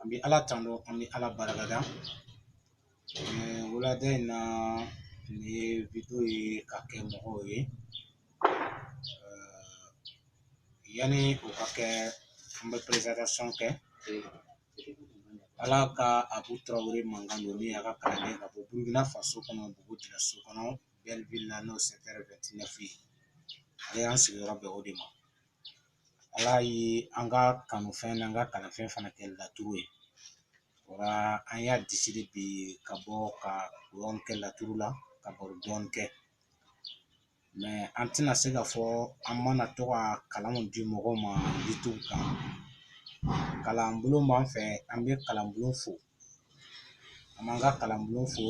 an bɛ ala tanu an bɛ ala barikada wulada in na nin ye vidéo ye ka kɛ mɔgɔw ye yanni o ka kɛ an bɛ présentation kɛ ala ka abu tarawele mankan don min a ka kalanden ka bɔ burukina faso kɔnɔ bobo julaso kɔnɔ belleville la n'o ye secteur vingt-neuf ye ale y'an sigiyɔrɔ bɛn o de ma Ala ye an ka kanufɛn n'an ka kalanfɛn fana kɛ laturu ye o la an y'a décidé bi ka bɔ ka dɔɔnin kɛ laturu la ka baro dɔɔnin kɛ mais an tɛna se k'a fɔ an mana to ka kalanw di mɔgɔw ma youtube kan kalanbulon b'an fɛ an bɛ kalanbulon fo an b'an ka kalanbulon fo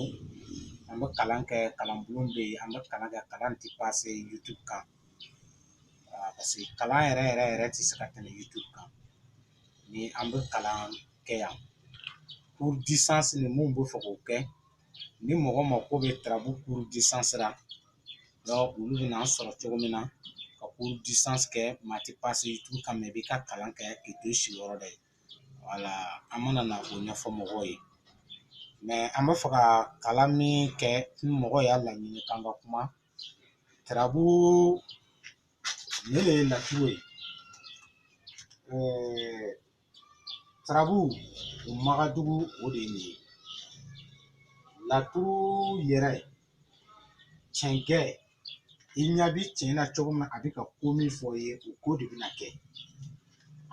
an bɛ kalan kɛ kalanbulon bɛ yen an bɛ kalan kɛ kalan tɛ passer youtube kan kalan yɛrɛ yɛrɛ yɛrɛ tɛ se ka tɛmɛ youtube kan ni an bɛ kalan kɛ yan cours distance minnu bɛ fɛ k'o kɛ ni mɔgɔ mako bɛ tarabu cours distance ra olu bɛna an sɔrɔ cogo min na ka cours distance kɛ mais a tɛ passer youtube kan i b'i ka kalan kɛ k'i to i sigiyɔrɔ la yen wala an mana na o ɲɛfɔ mɔgɔw ye mais an bɛ fɛ ka kalan min kɛ ni mɔgɔ y'a laɲini k'an ka kuma tarabu ne de ye laturu ye tarabu o ma ka jugu o de ye nin ye laturu yɛrɛ cɛncɛn i ɲɛ bi cɛn na cogo min na a bɛ ka ko min fɔ i ye o ko de bɛna kɛ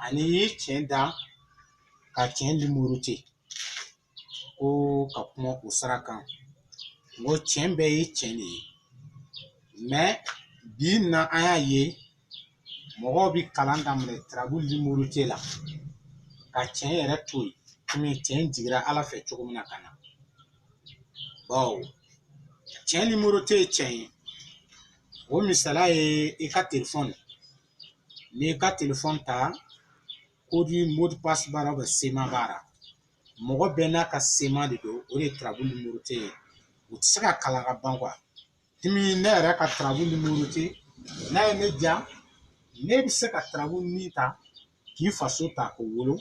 ani i ye cɛn da ka cɛn numéroter ko ka kuma o sira kan n ko cɛn bɛɛ ye cɛn de ye mais bi na an y'a ye mɔgɔw bi kalan daminɛ tarabu numéroté la ka cɛn yɛrɛ to yen komi cɛn jigira ala fɛ cogo min na ka na bawo cɛn numéroté ye cɛn ye o misala ye i ka telefɔn n'i ka telefɔn ta code mot de passe b'a la bɛ schéma b'a ra mɔgɔ bɛɛ n'a ka schéma de don o de ye tarabu numéroté ye u ti se ka kalan ka ban quoi Dimi ne yɛrɛ ka tarabu numéroté n'a ye ne diya ne bɛ se ka tarabu nin ta k'i faso ta k'o wolo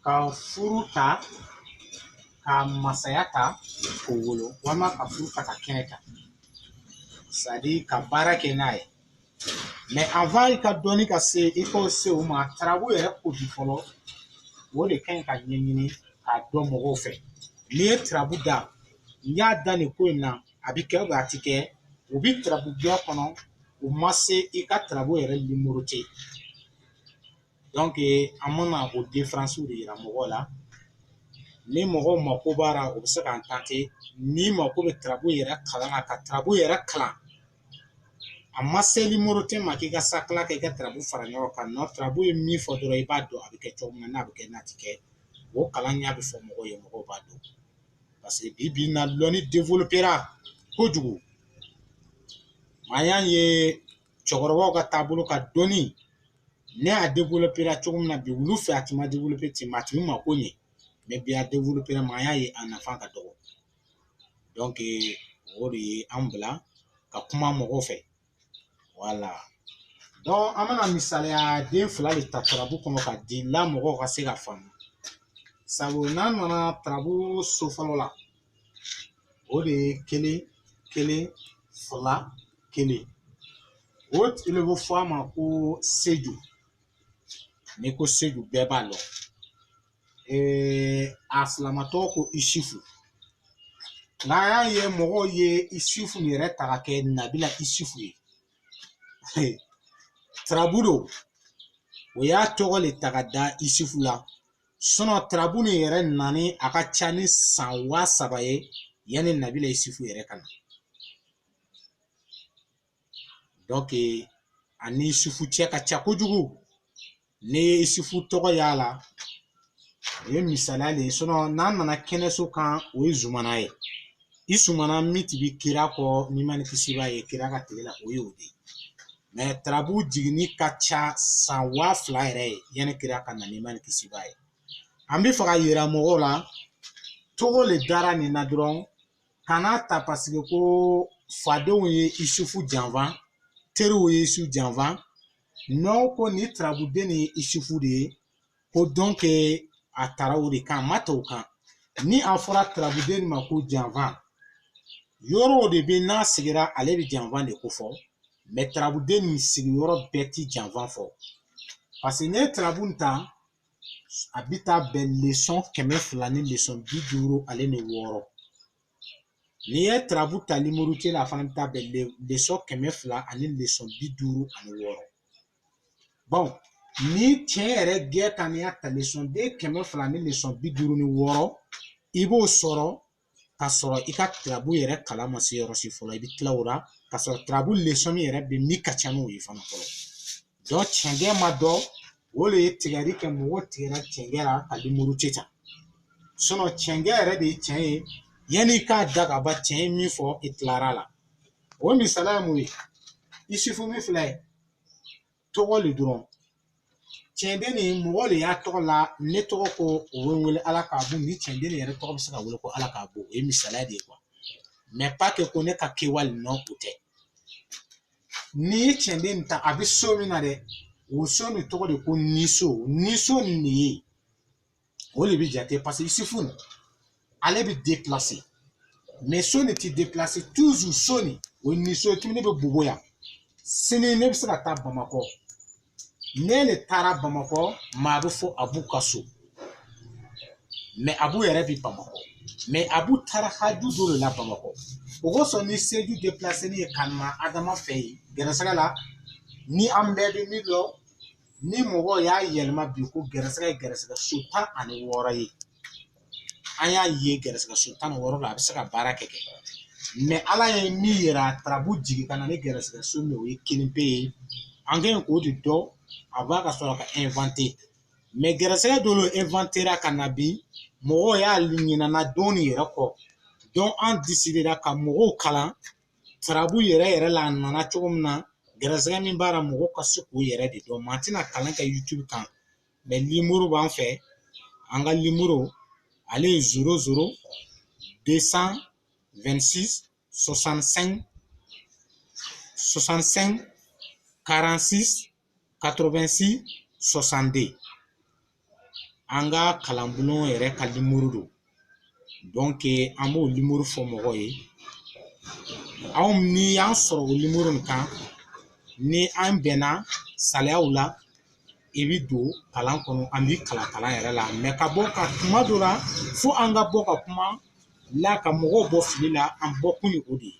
ka furu ta ka masaya ta k'o wolo walima ka furu ta ka kɛnɛ ta c'est-à-dire ka baara kɛ n'a ye mais avant i ka dɔnni ka se i ka se o ma tarabu yɛrɛ ko bi fɔlɔ o de ka ɲi ka ɲɛɲini k'a dɔn mɔgɔw fɛ n'i ye tarabu da n y'a da nin ko in na a bɛ kɛ a tɛ kɛ u bɛ turabuya kɔnɔ u ma se i ka turabu yɛrɛ nimorote dɔnke an mana o defaransiw de jira mɔgɔw la ni mɔgɔw mako b'a la u bɛ se k'a ta ten ni mako bɛ turabu yɛrɛ kalan na ka turabu yɛrɛ kalan a ma se nimorote ma k'i ka sa kala kɛ i ka turabu fara ɲɔgɔn kan nɔ turabu ye min fɔ dɔrɔn i b'a dɔn a bɛ kɛ cogo min na n'a bɛ kɛ n'a tɛ kɛ o kalan ɲɛ bɛ fɔ mɔgɔw ye mɔgɔw b'a dɔn parce que bi bi na lɔnni développera kojugu an y'a ye cɛkɔrɔbaw ka taabolo ka dɔnni ne a développera cogo min na bi olu fɛ a tun ma développer ten mais a tun bɛ mako ɲɛ mais bi a développera mais an y'a ye a nafa ka dɔgɔ donc o de ye an bila ka kuma mɔgɔw fɛ voilà donc an bɛna misaliya den fila de ta tarabu kɔnɔ ka di la mɔgɔw ka se ka faamu sabu n'an nana tarabu so fɔlɔ la o de ye kelen kelen fila kelen o le bɛ fɔ a ma ko seju n'i ko seju bɛɛ b'a dɔn ee a silamatɔgɔ ko isufu nka an y'a ye mɔgɔw ye isufu yɛrɛ ta ka kɛ nabila isufu ye tarabu don u y'a tɔgɔ le ta ka da isufu la sinon tarabu nin yɛrɛ nani a ka ca ni san waa saba ye yanni nabila isufu yɛrɛ ka na a ni isufu cɛ ka jan kojugu n'i ye isufu tɔgɔ y'a la o ye misaliya de ye sinon n'a nana kɛnɛso kan o ye zumana ye zumana min tun bɛ kira kɔ nɛɛma ni kisi b'a ye kira ka tile la o ye o de ye tarabu jiginni ka ca san waa fila yɛrɛ ye yanni kira ka na nɛɛma ni kisi b'a ye an bɛ fɛ ka yira mɔgɔw la tɔgɔ de dara nin na dɔrɔn kana ta paseke ko fadenw ye isufu janfa teriw ye isufu janfa n'u ko nin tarabuden nin ye isufu de ye ko dɔnke a taara o de kan a ma taa o kan ni a fɔra tarabuden ma ko janfa yɔrɔw de bɛ n'a sigira ale bɛ janfa de ko fɔ mɛ tarabuden nin sigiyɔrɔ bɛɛ tɛ janfa fɔ paseke n'i ye tarabu ta a bɛ taa bɛn lisɔn kɛmɛ fila ni lisɔn bi duuru ale ni wɔɔrɔ n'i ye tarabu ta nimorote la a fana bɛ taa bɛn lisɔn kɛmɛ fila ani lisɔn bi duuru ani wɔɔrɔ bon ni tiɲɛ yɛrɛ gɛn ta n'i y'a ta lisɔn den kɛmɛ fila ni lisɔn bi duuru ni wɔɔrɔ i b'o sɔrɔ ka sɔrɔ i ka tirabu yɛrɛ kalan ma se yɔrɔ si fɔlɔ i bɛ tila o la ka sɔrɔ tirabu lesɔnni yɛrɛ bɛ min ka ca n'o ye fana fɔlɔ dɔ cɛncɛn ma dɔ o de ye tigɛli kɛ mɔgɔ tigɛra cɛncɛn la ka limuru tɛ ta cɛncɛn yɛrɛ de ye cɛn ye yanni i k'a da ka ban cɛn ye min fɔ i tilara la o misaliya ye mun ye yusufu min filɛ tɔgɔ le dɔrɔn cɛnden nin mɔgɔ de y'a tɔgɔ la ne tɔgɔ ko o bɛ wele ala k'abu ni cɛnden nin yɛrɛ tɔgɔ bɛ se ka wele ko ala k'abu o ye misaliya de ye kuwa mɛ pa kɛ ko ne ka kɛwale nɔ o tɛ n'i ye cɛnden nin ta a bɛ so min na dɛ o so nin tɔgɔ de ko niso niso nin de ye o de bɛ jate parce que yusufu nin ale bɛ deplase mɛ so nin tɛ deplase toujours so nin o ye niso ye tuguni ne bɛ bobo yan sini ne bɛ se ka taa bamakɔ ne le taara bamakɔ maa bɛ fɔ abu ka so mɛ abu yɛrɛ bɛ bamakɔ mɛ abu taara haju dɔ de la bamakɔ o kosɔn ni seju depilaselen ye ka na adama fɛ yen gɛrɛsɛgɛ la ni an bɛɛ bɛ min dɔn ni mɔgɔw y'a yɛlɛma bi ko gɛrɛsɛgɛ ye gɛrɛsɛgɛ so tan ani wɔɔrɔ ye an y'a ye gɛrɛsɛgɛ so tan ni wɔɔrɔ la a bɛ se ka baara kɛ kɛ mɛ ala ye min yira tarabu jigin ka na ni gɛrɛsɛgɛ so min o ye kelen pe ye an k'a ɲini k'o de dɔn avant ka sɔrɔ ka inventer mɛ gɛrɛsɛgɛ dɔ le inventera ka na bi mɔgɔw y'a ɲinana dɔ nin yɛrɛ kɔ donc an desidera ka mɔgɔw kalan tarabu yɛrɛ yɛrɛ la a nana cogo min na gɛrɛsɛgɛ min b'a la mɔgɔ ka se k'o yɛrɛ de dɔn mɛ an tɛna kalan kɛ youtube kan mɛ nimoro b'an fɛ an ka nimoro ale ye zéro zéro deux cent vingt-six soixante-cinq soixante-cinq quarante-six 86 62 an ka kalanbulon yɛrɛ ka limuru don donc an b'o limuru fɔ mɔgɔw ye aw ni an sɔrɔ o limuru in kan ni an bɛnna sariyaw la i bi don kalan kɔnɔ an bi kalan kalan yɛrɛ la mɛ ka bɔ ka kuma dɔ la fo an ka bɔ ka kuma la ka mɔgɔw bɔ fili la an bɔ kun ye o de ye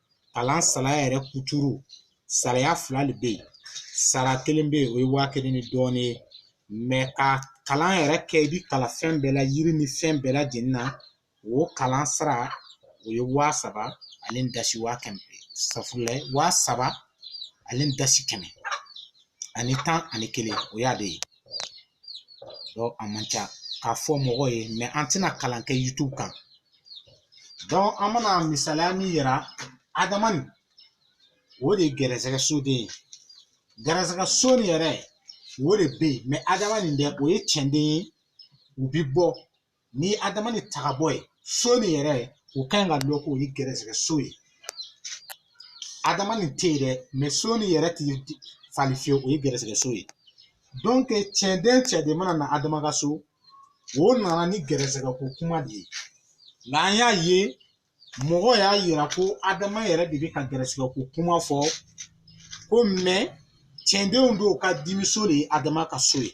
kalan sariya yɛrɛ kuturu sariya fila de bɛ yen sara kelen bɛ yen o ye waa kelen ni dɔɔnin ye mɛ ka kalan yɛrɛ kɛ i bɛ kalan fɛn bɛɛ la yiri ni fɛn bɛɛ lajɛlen na o kalan sara o ye waa saba ani dasi waa kɛmɛ safurulayi waa saba ani dasi kɛmɛ ani tan ani kelen o y'a de ye a man ca k'a fɔ mɔgɔw ye mɛ an tɛna kalan kɛ youtube kan donc an mana misaliya min yira adama ni o de ye gɛrɛsɛgɛ soden ye gɛrɛsɛgɛ so nin yɛrɛ o de bɛ yen adama nin dɛ o ye cɛnden ye u bɛ bɔ ni adama nin taga bɔ yen so nin yɛrɛ ye o ka ɲi ka dɔn k'o ye gɛrɛsɛgɛ so ye adama nin tɛ yen dɛ mɛ so nin yɛrɛ ti falen fiyewu o ye gɛrɛsɛgɛ so ye donc cɛnden cɛnden mana na adama ka so o nana ni gɛrɛsɛgɛ ko kuma de ye nka an y'a ye mɔgɔ y'a yira ko adama yɛrɛ de bɛ ka gɛrɛsɛgɛ ko kuma fɔ ko mɛ cɛndenw dɔw ka dimiso de ye adama ka so ye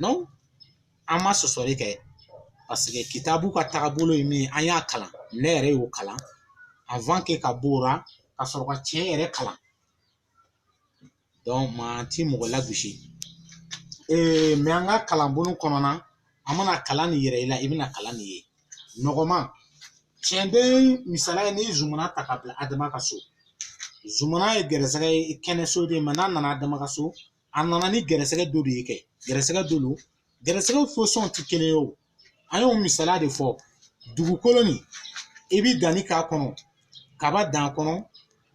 non an ma sɔsɔli kɛ paseke kitabu ka tagabolo ye min ye an y'a kalan ne yɛrɛ y'o kalan avant que ka b'o la ka sɔrɔ ka tiɲɛ yɛrɛ kalan mɛ an ti mɔgɔ lagosi mɛ an ka kalanbolo kɔnɔna an mana kalan nin yira i la i bɛna kalan nin ye nɔgɔman tiɲɛden misaliya n'i ye zumana ta ka bila adama ka so zumana ye gɛrɛsɛgɛ ye kɛnɛ so de mɛ n'a nana adama ka so a nana ni gɛrɛsɛgɛ dɔ de ye kɛ gɛrɛsɛgɛ don gɛrɛsɛgɛw fasɔnw tɛ kelen ye o an y'o misaliya de fɔ dugukolo nin i bi danni k'a kɔnɔ kaba dan kɔnɔ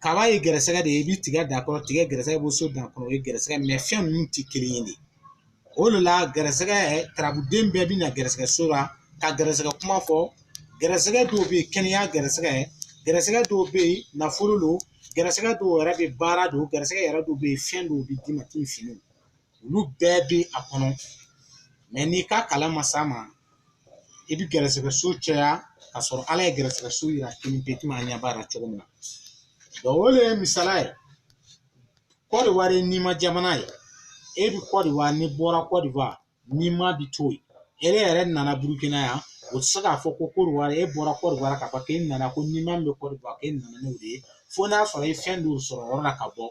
kaba ye gɛrɛsɛgɛ de ye i bi tigɛ dan kɔnɔ tigɛ gɛrɛsɛgɛ bɛ sɔ dan kɔnɔ o ye gɛrɛsɛgɛ mɛ fɛn ninnu tɛ kelen ye de o de la gɛrɛsɛgɛ turabuden bɛɛ bi na gɛrɛsɛgɛ so la ka gɛrɛsɛgɛ kuma fɔ gɛrɛsɛgɛ dɔw bɛ yen kɛnɛya gɛrɛsɛgɛ gɛrɛsɛgɛ dɔw bɛ yen nafolo don gɛrɛsɛgɛ dɔw yɛrɛ bɛ baara don gɛrɛsɛgɛ yɛrɛ dɔw bɛ yen fɛn dɔw bɛ d'i ma k'i fini olu bɛɛ bɛ a kɔnɔ mɛ n'i ka kalan ma s'a ma i bɛ gɛrɛsɛgɛ so caya ka sɔrɔ ala ye gɛrɛsɛgɛ so yira kelen pe tuma ɲɛ b'a la cogo min na donc o de ye misala ye kɔdiwari nɛɛma jamana ye e bɛ kɔdiwari n'i bɔra kɔdiwari nɛɛma bi to yen e yɛrɛ nana burukina yan o tɛ se k'a fɔ ko kɔdiwari e bɔra kɔdiwari ka fɔ k'e nana ko nɛɛma bɛ kɔdiwari k'e nana n'o de ye fo n'a sɔrɔ e ye fɛn dɔw sɔrɔ yɔrɔ la ka bɔ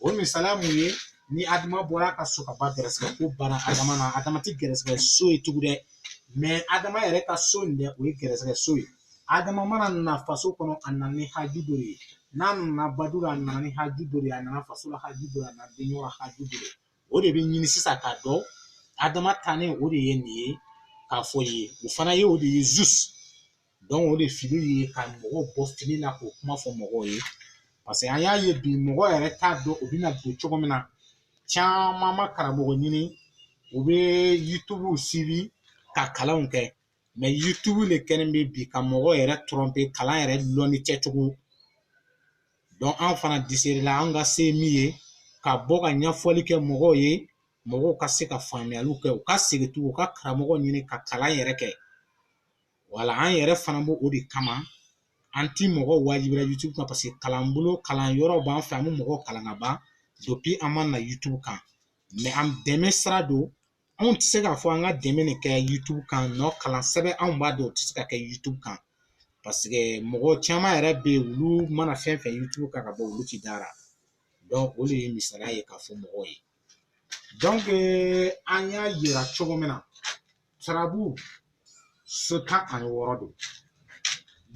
o misaliya mun ye ni adama bɔra a ka so kaban gɛrɛsɛgɛ ko bana adama na adama ti gɛrɛsɛgɛ so ye tugu dɛ mɛ adama yɛrɛ ka so nin dɛ o ye gɛrɛsɛgɛ so ye adama mana na faso kɔnɔ a nana ni haju dɔ ye n'a nana badu la a nana ni haju dɔ ye a nana faso la haju dɔ a nana denyɔrɔ la haju dɔ ye o de bɛ ɲini sisan k'a dɔn adama tannen o de ye nin ye k'a fɔ ye o fana ye o de ye zus o de fili ye ka mɔgɔw bɔ fili la k'o kuma fɔ mɔgɔw ye paseke an y'a ye bi mɔgɔ yɛrɛ t'a dɔn u bɛna don cogo min na caman ma karamɔgɔ ɲini u bɛ yitubuw sibi ka kalanw kɛ mɛ yitubu de kɛlen bɛ bi ka mɔgɔ yɛrɛ tɔrɔnpe kalan yɛrɛ lɔnni kɛcogo donc an fana desidela an ka se min ye ka bɔ ka ɲɛfɔli kɛ mɔgɔw ye mɔgɔw ka se ka faamuyaliw kɛ u ka segin u ka karamɔgɔ ɲini ka kalan yɛrɛ kɛ wala an yɛrɛ fana b'o o de kama an ti mɔgɔ wajibiya yutubu kan paseke kalan bolo kalan yɔrɔ b'an fɛ an bɛ mɔgɔw kalan ka ban depi an ma na yutubu kan mɛ an dɛmɛ sira don anw tɛ se k'a fɔ an ka dɛmɛ de kɛ yutubu kan nɔ kalan sɛbɛ anw b'a dɔn o tɛ se ka kɛ yutubu kan paseke mɔgɔ caman yɛrɛ bɛ yen olu mana fɛn fɛn yutubu kan ka bɔ olu ti da a ra o de ye misaliya ye k'a fɔ mɔgɔw ye an y'a yira cogo min na tarabu so tan ani wɔɔrɔ don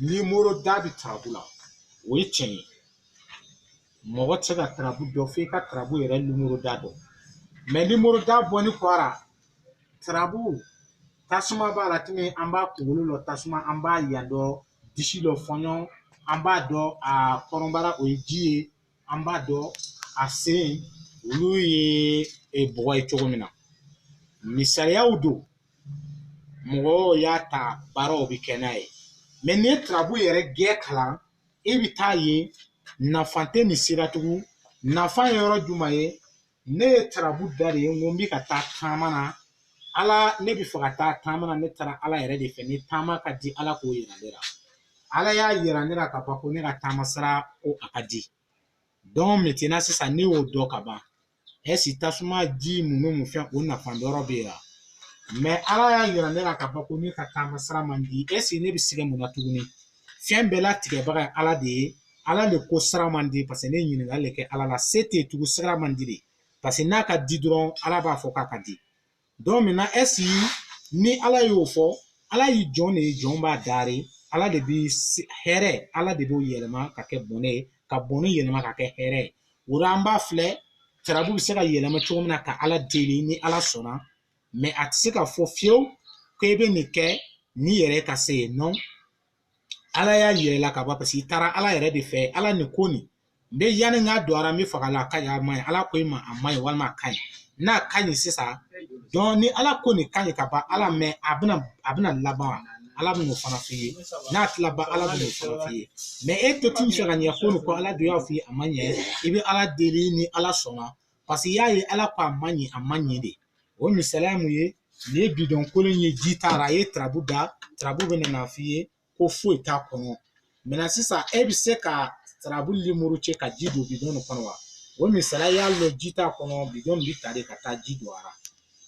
nimoro da bi tarabu la o ye tiɲɛ ye mɔgɔ tɛ se ka tarabu dɔn f'i ka tarabu yɛrɛ nimoro da dɔn mɛ nimoro da bɔlen kɔ a ra tarabu tasuma b'a la tumi an b'a kunkolo lɔ tasuma an b'a yan dɔ disi lɔ fɔɲɔ an b'a dɔn a kɔnɔbara o ye ji ye an b'a dɔn a sen olu ye e, bɔgɔ ye cogo min na misaliyaw don mɔgɔw y'a ta baaraw bɛ kɛ n'a ye mɛ n'i ye tarabu yɛrɛ gɛn kalan i bɛ t'a ye nafa tɛ nin si ra tugun nafa ye yɔrɔ jumɛn ye ne ye tarabu da de n ko n bɛ ka taa taama na ala ne bɛ fɛ ka taa taama na ne taara ala yɛrɛ de fɛ ni taama ka di ala k'o yira ne la ala y'a yira ne la ka ban ko ne ka taama sira ko a ka di dɔn mɛtina sisan ne y'o dɔn ka ban ɛsi tasuma ji ninnu mun fɛn o nafa dɔrɔ bɛ yen wa mɛ ala y'a yira ne la ka ban ko ne ka taama sira man di ɛsi ne bɛ sɛgɛn mun na tuguni fɛn bɛɛ latigɛbaga ye ala de ye ala le ko sira man di parce que ne ɲininkali le kɛ ala la se tɛ tugu sira man di de parce que n'a ka di dɔrɔn ala b'a fɔ k'a ka di donc maintenant est ce ni ala y'o fɔ ala y'i jɔn de ye jɔn b'a daari ala de bi hɛrɛ ala de b'o yɛlɛma ka kɛ bɔnɛ ye ka bɔnɛ yɛlɛma ka kɛ hɛrɛ ye o la an b'a filɛ tarabu bɛ se ka yɛlɛma cogo min na ka ala deli ni ala sɔnna mɛ a tɛ se ka fɔ fiyewu ko i bɛ nin kɛ n'i yɛrɛ ka se ye nɔ ala y'a yira i la ka ban paseke i taara ala yɛrɛ de fɛ ala nin ko nin n bɛ yanni n ka don a ra n bɛ fɛ k'a lɔn a ka ɲi a ma ɲi ala ko i ma a ma ɲi walima a ka ɲi n'a ka ɲi sisan dɔn ni ala ko nin ka ɲi ka ban ala mɛ a bɛna a bɛna laban ala bɛn'o fana f'i ye n'a ti laban ala bɛn'o fana f'i ye mɛ e to t'i fɛ ka ɲɛ ko nin ko ala dun y'a f'i ye a ma ɲi i bɛ ala deli ni ala sɔnna paseke i y'a ye ala ko a ma ɲi a ma ɲi de o misaliya mun ye nin ye bidɔn kolon ye ji t'a ra a ye tarabu da tarabu bɛna n'a f'i ye ko foyi t'a kɔnɔ mɛ sisan e bɛ se ka tarabu lemuru cɛ ka ji don bidɔn nin kɔnɔ wa o misaliya y'a lɔn ji t'a kɔnɔ bidɔn bɛ ta de ka taa ji don a la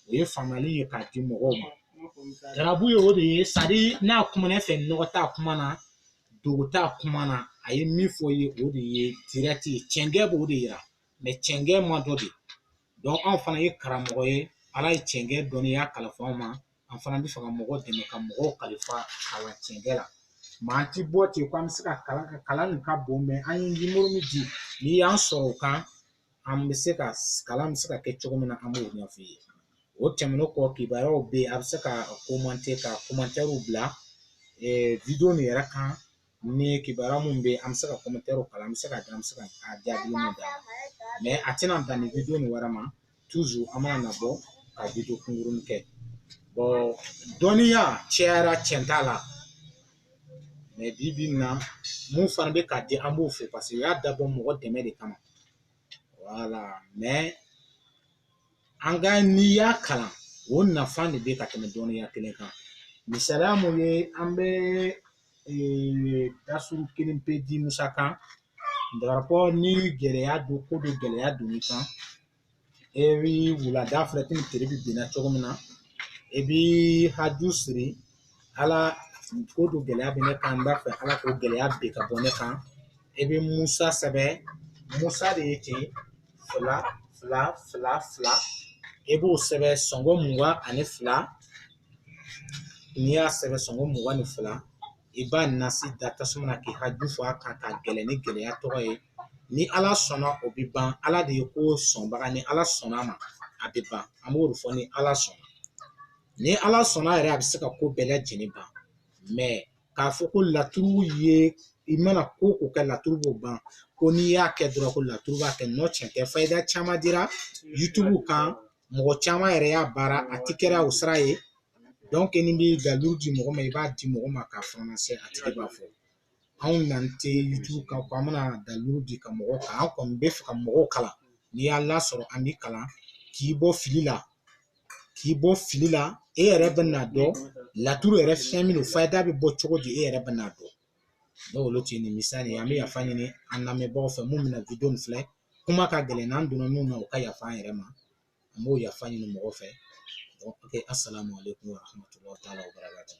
o ye faamuyali ye k'a di mɔgɔw ma tarabu ye o de ye sari n'a kuma ne fɛ nɔgɔ t'a kuma na dogo t'a kuma na a ye min fɔ ye o de ye dirɛti ye cɛncɛn b'o de yira mɛ cɛnkɛ ma dɔ de dɔn anw fana ye karamɔgɔ ye ala ye cɛnkɛ dɔnniya kalifa anw ma an fana b'a fɛ ka mɔgɔ dɛmɛ ka mɔgɔw kalifa kalan cɛnkɛ la ma an ti bɔ ten ko an bɛ se ka kalan ka kalan nin ka bon mɛ an ye nimoro min di n'i y'an sɔrɔ o kan an bɛ se ka kalan bɛ se ka kɛ cogo min na an b'o ɲɛf'i ye o tɛmɛnen kɔ kibaruyaw bɛ yen a bɛ se ka komante ka komantɛriw bila video nin yɛrɛ kan ni kibaruya min bɛ an bɛ se ka komantɛriw kalan an bɛ se ka an bɛ se ka jaabi min d'a ma a tɛna dan nin video nin yɛrɛ ma toujours an b'a nabɔ ka video kunkurunnin kɛ dɔnniya cayara cɛnda la mɛ bi bi na min fana bɛ k'a di an b'o fɔ parce que u y'a dabɔ mɔgɔ dɛmɛ de kama wala mɛ nka n'i y'a kalan o nafa de bɛ ka tɛmɛ dɔnniya kelen kan misaliya mun ye an bɛ dasuru kelen pe di musa kan par rapport ni gɛlɛya don ko dɔ gɛlɛya don i kan e bi wulada fɛ tile binna cogo min na e bi haju siri ala ko dɔ gɛlɛya bɛ ne kan n b'a fɛ ala ko gɛlɛya bɛ ka bɔ ne kan i bɛ musa sɛbɛn musa de ye ten fila fila fila fila i b'o sɛbɛn sɔngɔ mugan ani fila n'i y'a sɛbɛn sɔngɔ mugan ni fila i b'a nasi da tasuma na k'i ka haju fɔ a kan ka gɛlɛn ni gɛlɛya tɔgɔ ye ni ala sɔnna o bɛ ban ala de ye ko sɔnbaga ni ala sɔnna a ma a bɛ ban an b'o de fɔ ni ala sɔnna ni ala sɔnna yɛrɛ a bɛ se ka ko bɛɛ lajɛlen ban mɛ k'a fɔ ko laturu ye i mana ko ko kɛ laturu b'o ban ko n'i y'a kɛ dɔrɔn ko laturu b'a kɛ nɔ cɛn tɛ fayida caman dira yutubu kan mɔgɔ caman yɛrɛ y'a baara a ti kɛra o sira ye dɔnke n'i bi dalilu di mɔgɔ ma i b'a di mɔgɔ ma k'a fana se a tigi b'a fɔ anw na tɛ yutubu kan an bɛna dalilu di ka mɔgɔw kan an kɔni b'a fɛ ka mɔgɔw kalan n'i y'an lasɔrɔ an b'i kalan k'i bɔ fili la k'i bɔ fili la e yɛrɛ bɛ n'a dɔn laturu yɛrɛ fɛn min fayida bɛ bɔ cogo di e yɛrɛ bɛ n'a dɔn dɔw olu tɛ nin misa nin an bɛ yafa ɲini an lamɛnbagaw fɛ minnu bɛna video filɛ kuma ka gɛlɛn n'an donna min na u ka yafa an yɛrɛ ma an b'o yafa ɲini mɔgɔw fɛ asalamu aleykum wa rahmatulahi wa barakatuh